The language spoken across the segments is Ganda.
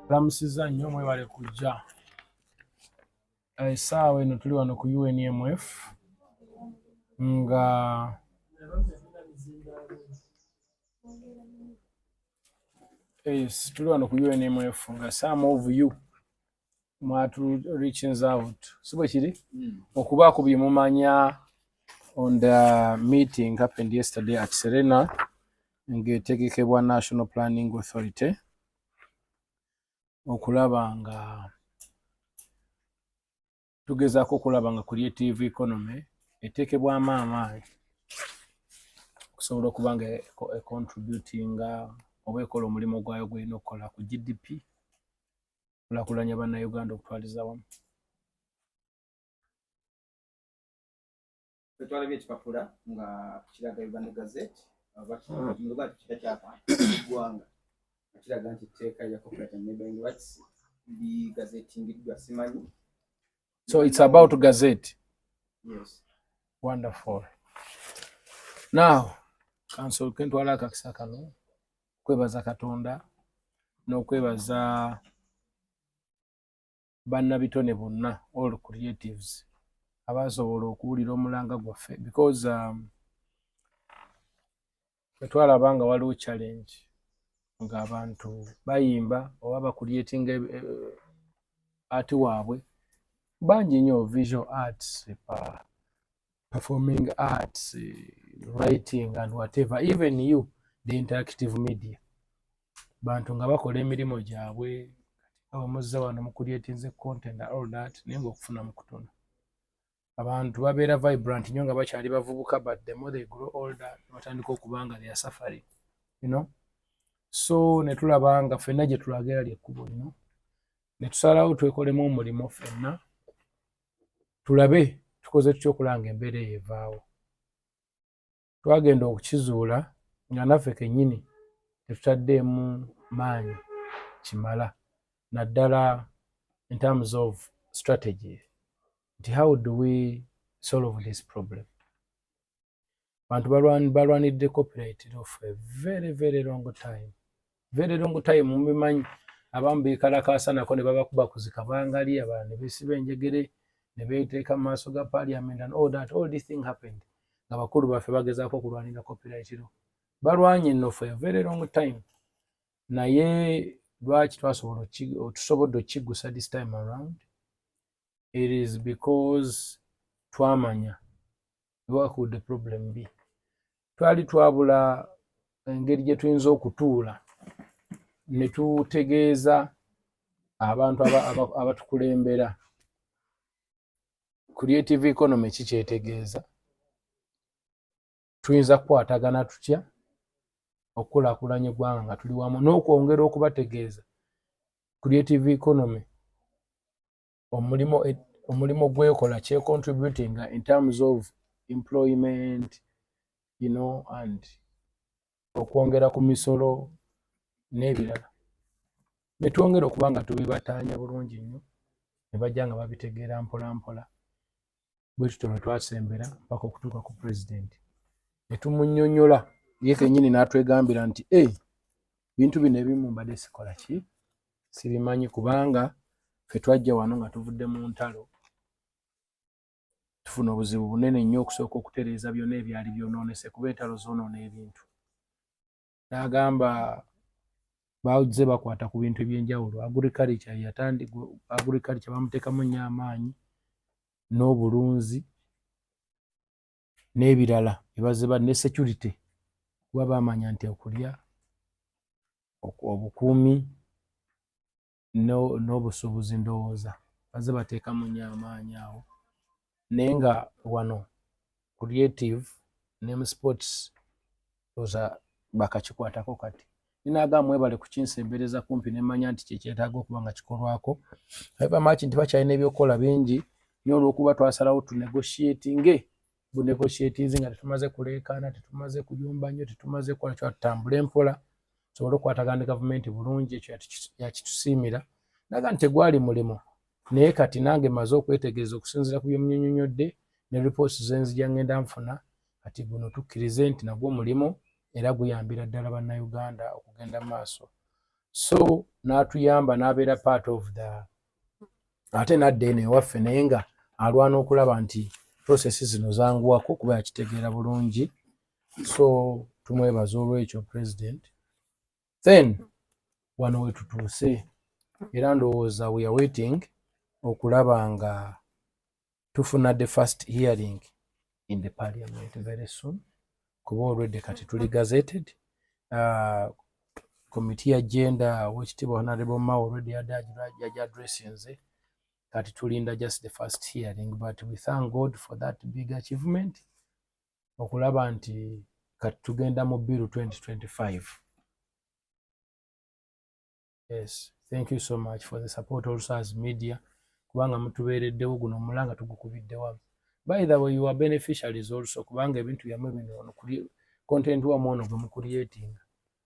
Lamusiza nnyo mwebale kujja esaawa eh, eno tuli wano ku UNMF nga yes, tuli wano ku UNMF nga some of you mwatu reaching out sibwe kiri mm. okuba ku bimumanya on the meeting happened yesterday at Serena ngetegekebwa National Planning Authority okulaba nga tugezaako okulaba nga creative economy eteekebwamu amaanyi okusobola okuba nga econtributinga oba ekola omulimu gwayo gweyina okukola ku gdp kulakulanya bannayuganda okutwaliza wamu twalabye ekipapula nga kiraga Uganda Gazette bakimuluga nti kika kyabantu eggwanga kiraga nti etteeka lya copyright and neighboring rights ligazetingiddwa simanyi so it's about gazette yes wonderful now kansol kentwala akakisa kano kwebaza katonda n'okwebaza no bannabitone bonna all creatives abaasobola okuwulira omulanga gwaffe because um, twetwalaba nga waliwo challenge ng'abantu bayimba oba bakulyetinga eh, eh, ati waabwe bangi nnyo visual arts performing arts writing and whatever even you the interactive media bantu nga bakola emirimu gyabwe abamuzza wano mukulyetinze content all that naye nga okufuna mukutona abantu babeera vibrant nyo nga bakyali bavubuka but the more they grow older batandika okubanga their suffering you know so netulaba nga fenna gyetulaga era lyekkubo lino netusalawo twekolemu omulimu fenna tulabe tukoze tutya okulanga embeera eyo evaawo twagenda okukizuula nga naffe kennyini tetutaddeemu maanyi kimala naddala in terms of strategy nti how do we solve this problem bantu balwanidde copyright of a very very long time very long time mubimanyi abamu bekalakaasa nako ne babakuba kuzika bangali abala ne besiba enjegere ne beteeka mu maaso ga parliament and all that all this thing happened nga bakulu baffe bagezaako okulwanira copyright lo balwanye no for a very long time naye lwaki twasobola tusobodde okukiggusa this time around it is because twamanya ewakuudde problem bi twali twabula engeri gye tuyinza okutuula ne tutegeeza abantu abatukulembera creative economy kikyetegeeza tuyinza kukwatagana tutya okukulakulanya eggwanga nga tuli wamu n'okwongera okubategeeza creative economy omulimu omulimu gwekola kye contributing in terms of employment you know and okwongera ku misolo n'ebirala netwongera okuba nga tubibataanya bulungi nnyo ne bajja nga babitegeera mpola mpola bwe tutyo lwe twasembera mpaka okutuuka ku pulezidenti ne tumunyonyola ye kenyini n'atwegambira nti e bintu bino ebimu mbadde sikola ki sibimanyi kubanga fe twajja wano nga tuvudde mu ntalo tufuna obuzibu bunene nnyo okusooka okutereeza byonna ebyali byonoonese kuba entalo zoonoona ebintu n'agamba bazze bakwata ku bintu ebyenjawulo agriculture yatandi agriculture bamuteekamu nnyo amaanyi n'obulunzi n'ebirala ebazze ba ne security kuba baamanya nti okulya obukuumi n'obusuubuzi ndowooza baze bateekamu nnyo amaanyi awo naye nga wano creative ne mu sports oza bakakikwatako kati ninaga mwebale kukinsembereza kumpi nemanya nti kyekyetaaga okuba nga kikolwako aba maki nti bakyalina ebyokukola bingi nyo olwokuba twasalawo tunegotiatinge bunegotiatinze nga tetumaze kuleekaana tetumaze kuyumba nnyo tetumaze kukola kyoa tutambule mpola tusobole okukwatagana ne gavumenti bulungi ekyo yakitusiimira naga nti tegwali mulimu naye kati nange maze okwetegereza okusinziira ku byemunyonyonyodde ne reports zenzija ngenda nfuna kati guno tukkirize nti nagwo mulimu era guyambira ddala bannayuganda okugenda mu maaso so n'atuyamba n'abeera part of the ate nadda eno ewaffe naye nga alwana okulaba nti prosesi zino zanguwako kuba yakitegeera bulungi so tumwebaza olwekyo president then wano wetutuuse era ndowooza weare waiting okulaba nga tufuna the first hearing in the parliament very soon kuba already kati tuli gazetted uh, komiti ya genda wekitiibwa honarable mao already yaji addressinze kati tulinda just the first hearing but we thank god for that big achievement okulaba nti kati tugenda mu biru 2025 yes thank you so much for the support also as media kubanga mutubeereddewo guno omulanga tugukubiddewamu by the way your beneficiaries also kubanga ebintu byamwe bino ono kuli content wa mwono gwe mukulietinga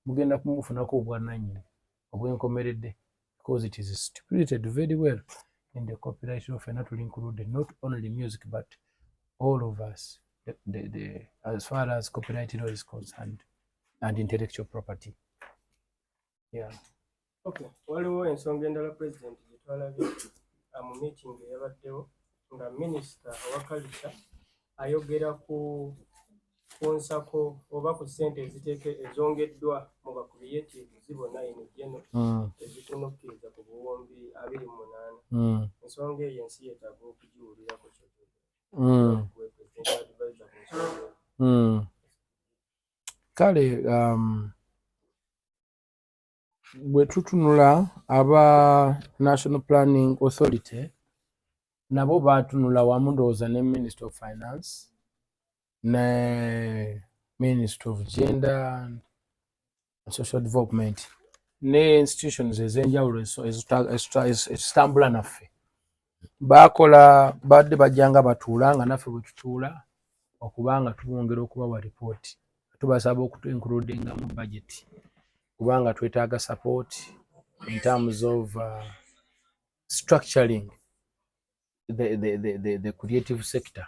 mugenda kumufunako obwananyini obwenkomeredde because it is stipulated very well in the copyright law fena tuli included not only music but all of us the, the, the, as far as copyright law is concerned and intellectual property waliwo ensonga endala president gyetwalabye mu meeting eyabaddewo nga minisita owa kalisa ayogera ku ku nsako oba ku ssente eziteeke ezongeddwa mu bakubiyeti zibona eno jeno hmm. ezikunukkiriza ku buwumbi abiri mu munaana hmm. ensonga eyo ensi yetaaga okugiwulirako kyo hmm. kale um, bwe tutunula aba national planning authority nabo baatunula wamu ndowooza ne minister of finance ne minister of gender and social development ne institutions ezenjawulo ezitambula naffe baakola baadde bajja nga batuula nga naffe bwe tutuula okuba nga tubongera okubawa ripooti tubasaba okutuinkulude nga mu budget kubanga twetaaga support in terms of uh, structuring the, the, the, the, the creative sector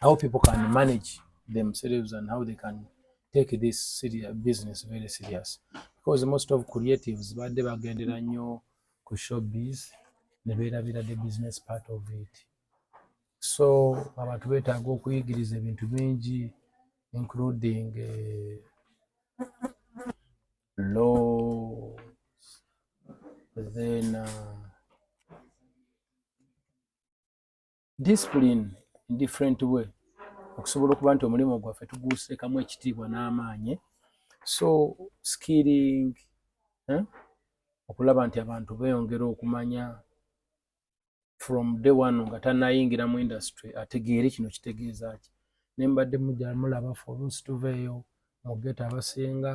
how people can manage themselves and how they can take this serious business very serious because most of creatives badde bagendera nnyo ku showbiz ne beerabira the business part of it so abantu beetaaga okuyigiriza ebintu bingi including uh, laws then uh, discipline in different way okusobola okuba nti omulimu gwaffe tuguuseekamu ekitiibwa n'amaanyi so skilling eh? okulaba nti abantu beeyongera okumanya from day one nga tanayingira mu industry ategeere kino kitegeeza ki ne mbadde mujamulaba folusi tuveeyo mugeta abasinga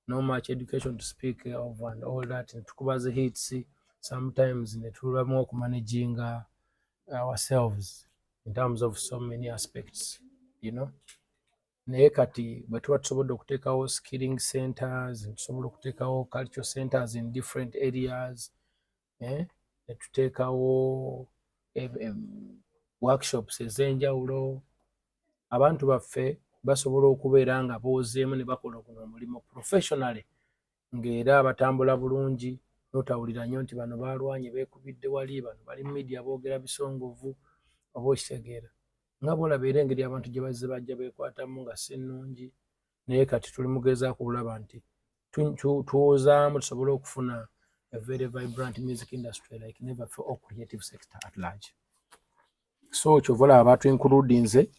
no much education to speak of and all that tukuba zi hits sometimes netulamu okumanaginga ourselves in terms of so many aspects you know naye kati bwe tuba tusobodde okuteekawo skilling centers tusobola okuteekawo cultural centers in different areas eh, ne tuteekawo eh, workshops ez'enjawulo abantu baffe basobola okubeera nga boozeemu ne bakola guno omulimu professionally ng'era batambula bulungi notawulira nnyo nti bano baalwanye beekubidde wali bano bali mu midia boogera bisongovu oba okitegeera nga bwolaba era engeri abantu gye bazze bajja beekwatamu nga si nnungi naye kati tuli mugezaako okulaba nti tuwozaamu tusobole okufuna a very vibrant music industry like never for all creative sector at large so kyova olaba batwinkuludinze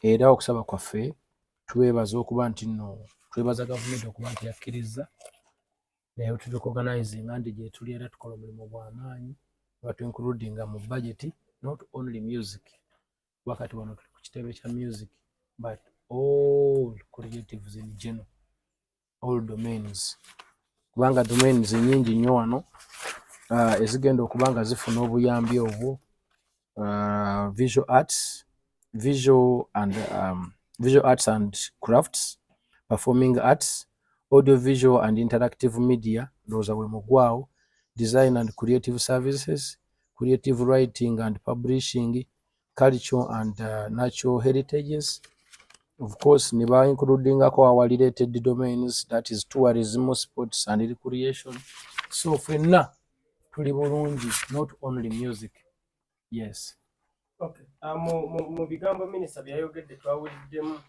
era okusaba kwaffe twebaza okuba nti no twebaza gavumenti okuba nti yakkirizza naye tutukoganizinga nti gyetuli era tukola omulimu gwamaanyi batwinkuludinga mu budget not only music wakati wano tuli ku kitebe kya music but all creatives in general all domains kubanga domains nyingi nnyo wano uh, ezigenda okuba nga zifuna obuyambi obwo uh, visual arts visual and um, visual arts and crafts performing arts audio visual and interactive media ndowooza bwe mugwawo design and creative services creative writing and publishing culture and uh, natural heritages of course ne ba includingako our related domains that is tourism sports and recreation so fenna tuli bulungi not only music yes okay. uh, mu, mu, mu bigambo minisita byeyayogedde twawuliddemu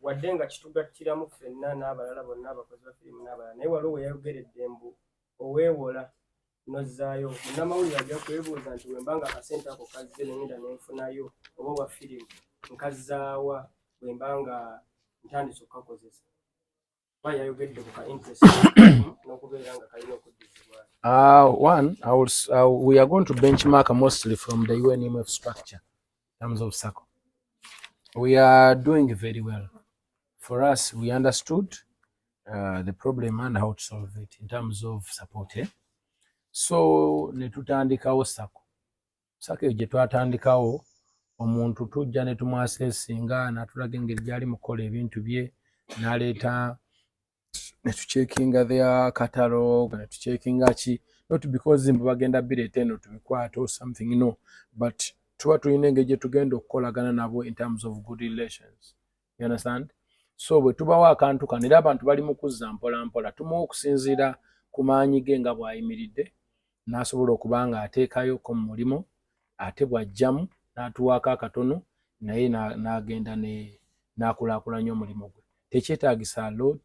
wadde nga kitugattiramu ffenna n'abalala bonna abakozi ba firimu n'abalala naye waliwo weyayogeredde mbu oweewola nozzaayo munnamawulire ajja kwebuuza nti bwemba nga akasente ako kazze nengenda nenfunayo oba obwa firimu nkazzaawa bwemba nga ntandise okukakozesa kuba yayogedde ku ka interest n'okubeera nga kalina okuddizibwa Uh, one, I will, uh, we are going to benchmark mostly from the UNMF structure. terms of circle. We are doing very well. For us, we understood uh, the problem and how to solve it in terms of support. Eh? So, netutandikawo sako. Sako eje twatandikawo omuntu tujja netumwasesinga natulaga engeri gyali mukola ebintu bye naleeta ne tucekinga their catalog ne tucekinga ki not because mbu bagenda bireeta eno tubikwate or something no but tuba tulina engeri gye tugenda okukolagana nabo in terms of good relations you understand so bwe tubawo akantu kano era abantu bali mu kuzza mpolampola tumuwa okusinziira ku maanyi ge nga bw'ayimiridde n'asobola okuba nga ateekayo ko mu mulimu ate bw'ajjamu n'atuwaako akatono naye n'agenda ne n'akulaakulanya omulimu gwe tekyetaagisa lot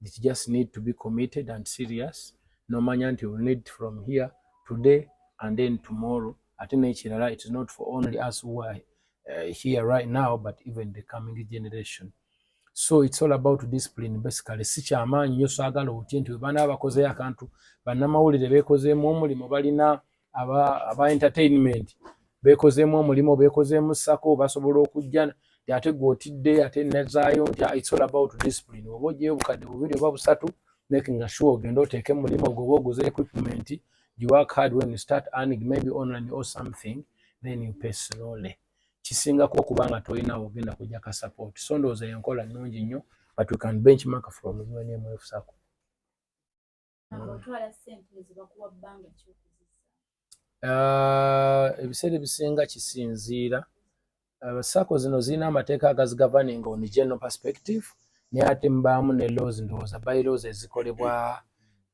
it just need to be committed and serious n'omanya nti will need from here today and then tomorrow ate n'ekirala it is not for only us who are uh, here right now but even the coming generation so it's all about discipline basically si kyamaanyi nyo saagala otye nti webaana abakozeyo akantu bannamawulire beekozeemu omulimu balina aba, aba entertainment beekozeemu omulimu beekozeemu sako basobola okujja ti ate gwe otidde ate nezaayo nti ah, it's all about discipline oba ojeyo obukadde bubiri oba busatu making sure ogende oteeke mulimu ogwo oba oguze equipment you work hard when you start earning maybe online or something then you pay slowly kisingako okuba nga tolina ogenda kujja ka support so ndowooza yenkola nnungi nnyo but we can benchmark from unmf sacco uh, ebiseera ebisinga kisinziira uh, sacco zino zirina amateeka agazigavaninga on general perspective naye ate mubaamu ne laws ndowooza by laws ezikolebwa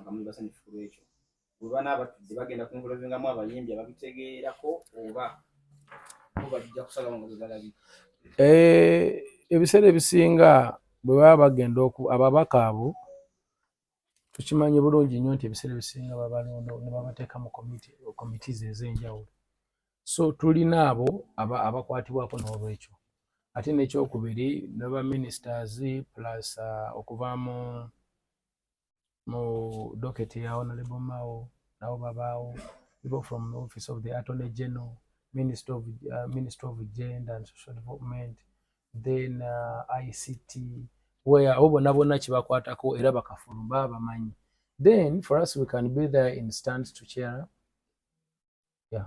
nga muli basanyufu ku lwekyo oba n'abatudde bagenda ku nvulavingamu abayimbi ababitegeerako oba bo bajja kusalawo nga bwe balabi eh, ebiseera ebisinga bwe baba bagenda ababaka abo tukimanyi bulungi nnyo nti ebiseera ebisinga babalonda ne babateeka mu committees ez'enjawulo so tulina abo abakwatibwako n'olwekyo ate n'ekyokubiri ne ba ministers plus uh, okuva mu mu doketi ya honorable mao nabo babaawo people from the office of the attorney general minister of, uh, minister of gender and social development then uh, ict where abo bonna bonna kibakwatako era bakafulu baba bamanyi then for us we can be there in stands to cheer up yeah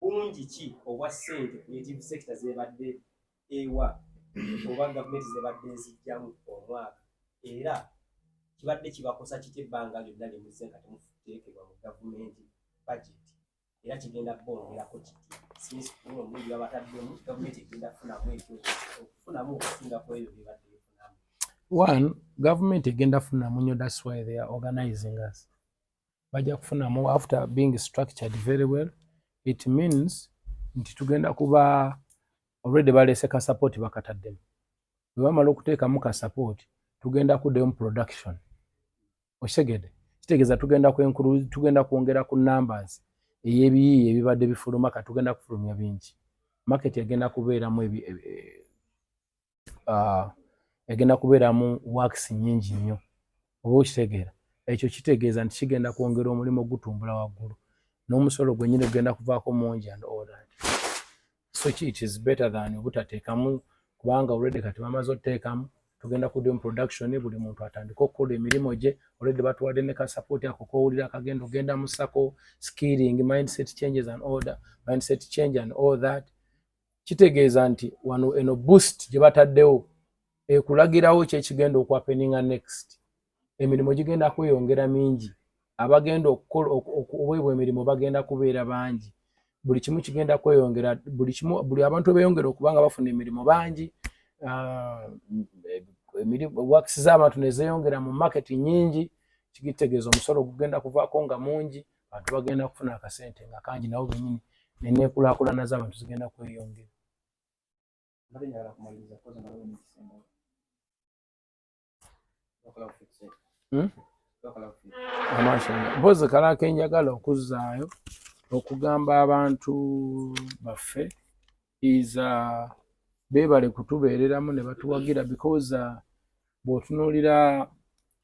bungi ki obwa ssente creative sector zebadde ewa oba gavumenti zebadde ezijjamu omwaka era kibadde kibakosa kiti ebbanga lyonna lyemuzze nga temuteekebwa mu gavumenti budget era kigenda bongerako kiti since kuno omulundi babataddemu gavumenti egenda kufunamu ekyo okufunamu okusinga ku ebyo byebadde bifunamu one gavumenti egenda funamu nyo that's why they are organizing us bajja kufunamu after being structured very well it means nti tugenda kuba already baleese ka support bakataddemu bwe bamala okuteekamu ka support tugenda kuddayo mu production okitegede kitegeeza tugenda kwenkulu tugenda kwongera ku numbers ey'ebiyiiye ebibadde bifuluma ka tugenda kufulumya bingi market egenda kubeeramu ebi, ebi, ebi uh, egenda kubeeramu wakisi nyingi nnyo oba okitegeera ekyo kitegeeza nti kigenda kwongera omulimu ogutumbula waggulu n'omusolo gwenyini gugenda kuvaako mungi and all that so ki it is better than obutateekamu kubanga olwedde kati bamaze oteekamu tugenda ku doing production buli muntu atandika okukola emirimu gye olwedde batuwadde ne ka support ako kowulira akagenda ogenda musako skilling mindset changes and order mindset change and all that kitegeeza nti wano eno boost gye bataddewo ekulagirawo kyekigenda okuapeninga next emirimu gigenda kweyongera mingi abagenda okukola okuweebwa emirimu bagenda kubeera bangi buli kimu kigenda kweyongera buli kimu buli abantu beyongera okuba nga bafuna emirimu bangi ah, wakisi z'abantu nezeyongera mu market nyingi kigitegeeza omusolo gugenda kuvaako nga mungi abantu bagenda kufuna akasente nga kangi nabo benyini neneekulakulana z'abantu zigenda kweyongera hmm? mpozi kalakenjagala okuzaayo okugamba abantu baffe is uh, beebale kutubeereramu ne batuwagira because uh, bw'otunuulira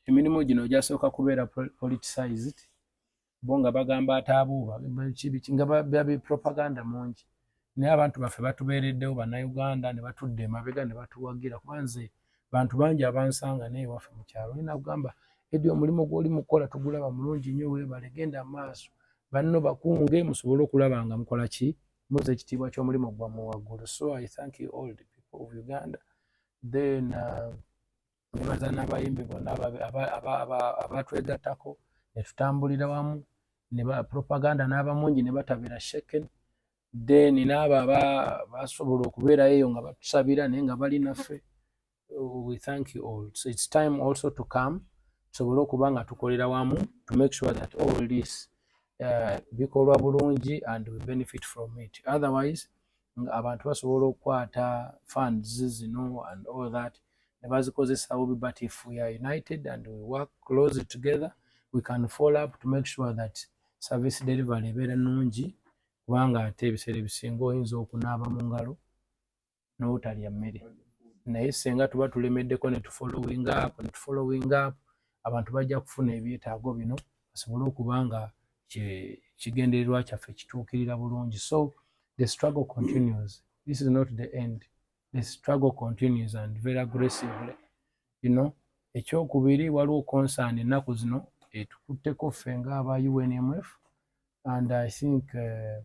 emirimu gino gyasooka kubeera politicized bo nga bagamba ataabuuba nga babi propaganda mungi naye abantu baffe batubeereddewo bannayuganda ne batudde emabega ne batuwagira kuba nze bantu bangi abansanga naye waffe mu kyalo naye nakugamba edi omulimu gw'oli mukukola tugulaba mulungi nnyo weebale genda maaso banno bakunge musobole okulaba nga mukola ki Muze ekitiibwa ky'omulimu gwammwe waggulu so I thank you all the people of Uganda then uh, nebaza uh, n'abayimbi bonna abatwegattako ne tutambulira wamu ne ba propaganda n'abamungi ne batabira sheken then n'abo aba basobola okubeerayo eyo nga batusabira naye nga bali naffe we thank you all so it's time also to come tusobole okuba nga tukolera wamu to make sure that all this uh, bikolwa bulungi and we benefit from it otherwise abantu basobola okukwata funds zino and all that ne bazikozesa bubi but if we are united and we work close together we can follow up to make sure that service delivery ebeera nungi kubanga ate ebiseera ebisinga oyinza okunaaba mu ngalo n'obutalya mmere naye senga tuba tulemeddeko ne tufollowing up ne tufollowing up abantu bajja kufuna ebyetaago bino basobole okuba nga kigendererwa kyaffe kituukirira bulungi so the struggle continues this is not the end the struggle continues and very aggressively you know ekyokubiri waliwo concern ennaku zino etukutteko ffe nga aba unmf and i think uh,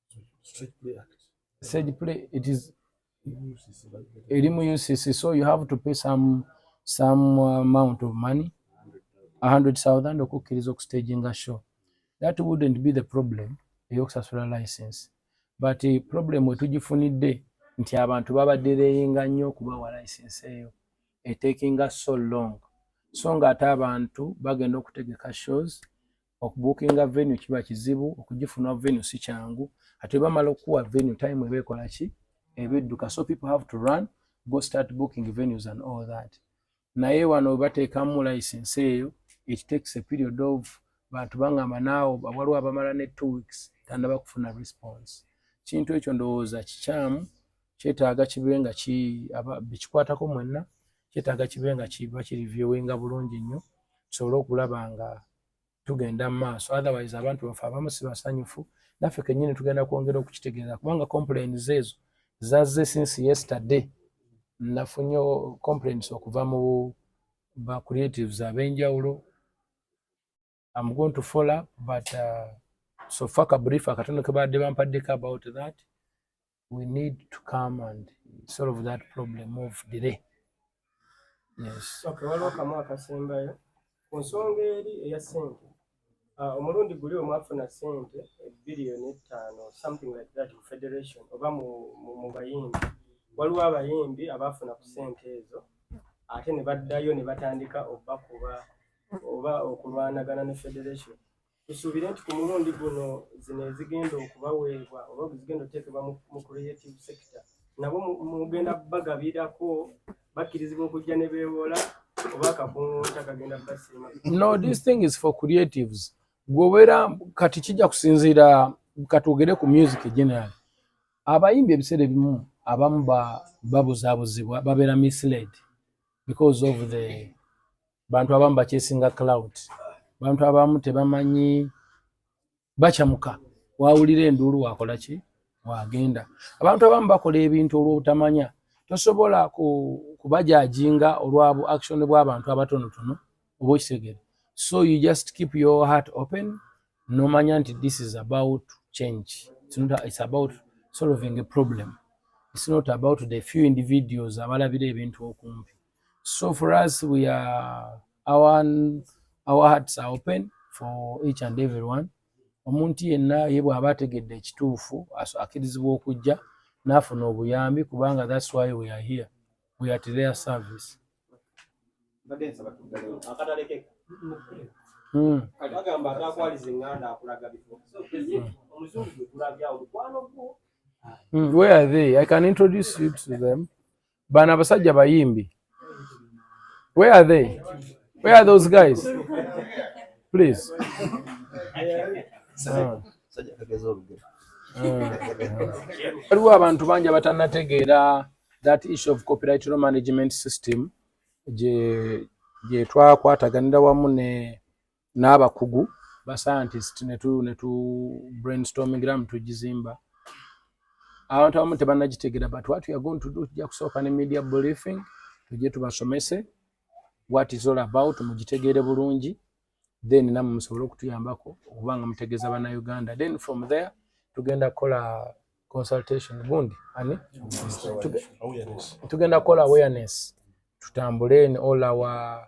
Stage play act. Stage play, it is elimu UCC, so you have to pay some some amount of money, a hundred thousand okukkiriza okustaginga show. That wouldn't be the problem eyokusasula license, but eh, problem wetugifunidde nti abantu babadde leyinga nnyo okubawa license eyo etekinga so long so nga ate abantu bagenda okutegeka shows okubukinga venue kiba kizibu okugifuna venue si kyangu ate bamala okukuwa venue time eba ekola ki eba edduka so people have to run go start booking venues and all that naye wano webateekamu license eyo it takes a period of bantu bangamba naawo waliwo abamala ne two weeks tandaba kufuna response kintu ekyo ndowooza kikyamu kyetaaga kibe nga bekikwatako mwenna kyetaaga kibe nga kiba kirivyowinga bulungi nnyo tusobole okulaba nga tugenda mu maaso otherwise abantu bafe abamu si basanyufu naffe kenyini tugenda kwongera okukitegeeza kubanga complains ezo zazze since yesterday nafunyo complains okuva mu ba creatives abenjawulo am going to follow up but uh, so faka brief akatono kebaadde bampaddeko about that we need to come and solve that problem of delay yes okay waliwo kamu akasembayo ku nsonga eri eya sente ah, omulundi guli omwafuna sente ebiliyoni ettaano something like that mu federation oba mu bayimbi waliwo abayimbi abaafuna ku sente ezo ate ne baddayo ne batandika obakuba oba okulwanagana ne federation Tusuubira nti ku mulundi guno zino ezigenda okubaweebwa oba zigenda okuteekebwa mu creative sector nabo mugenda bagabirako bakkirizibwa okujja ne beewola oba akakungunta kagenda basiima no this thing is for creatives gweobeera kati kijja kusinziira katwogere ku music general abayimbi ebiseera ebimu abamu babuzabuzibwa babeera misled because of the bantu abamu bakyesinga cloud bantu abamu tebamanyi bakyamuka wawulira enduulu wakola ki wagenda abantu abamu bakola ebintu olwobutamanya tosobola kubajajinga olwa bu action bwabantu abatonotono oba okitegere so you just keep your heart open nomanya nti this is about change it's, not, it's about solving a problem it's not about the few individuals abalabira ebintu okumpi So for us, we are our our hearts are open for each and everyone. Omuntu yenna ye bw'aba ategedde ekituufu akirizibwa okujja n'afuna obuyambi kubanga that's why we are here. We are at their service. Hmm. Agamba atakwaliza enganda akulaga bifo. Omuzungu gwe tulabyawo mukwano gwo. Hmm, where are they? I can introduce you to them. bana abasajja bayimbi where are they where are those guys please ah. Ah. waliwo abantu bangi abatanategeera that issue of copyright law management system gyetwakwataganira wamu ne n'abakugu ba scientist netu netu brainstorming ram tujizimba abantu abamu tebanagitegera but what we are going to do tujja kusooka ne media briefing tujje tubasomese what is all about mugitegeere bulungi then namwe musobole okutuyambako okuba nga mutegeeza bannayuganda then from there tugenda kukola consultation gundi ani tugenda kukola awareness tutambule in all our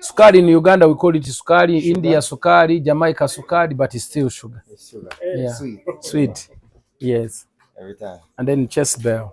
sukari ni Uganda we call it sukari, India sukari, Jamaica sukari but still sugar. Yeah. Sweet. Sweet. Yes. Every time. And then chest bell.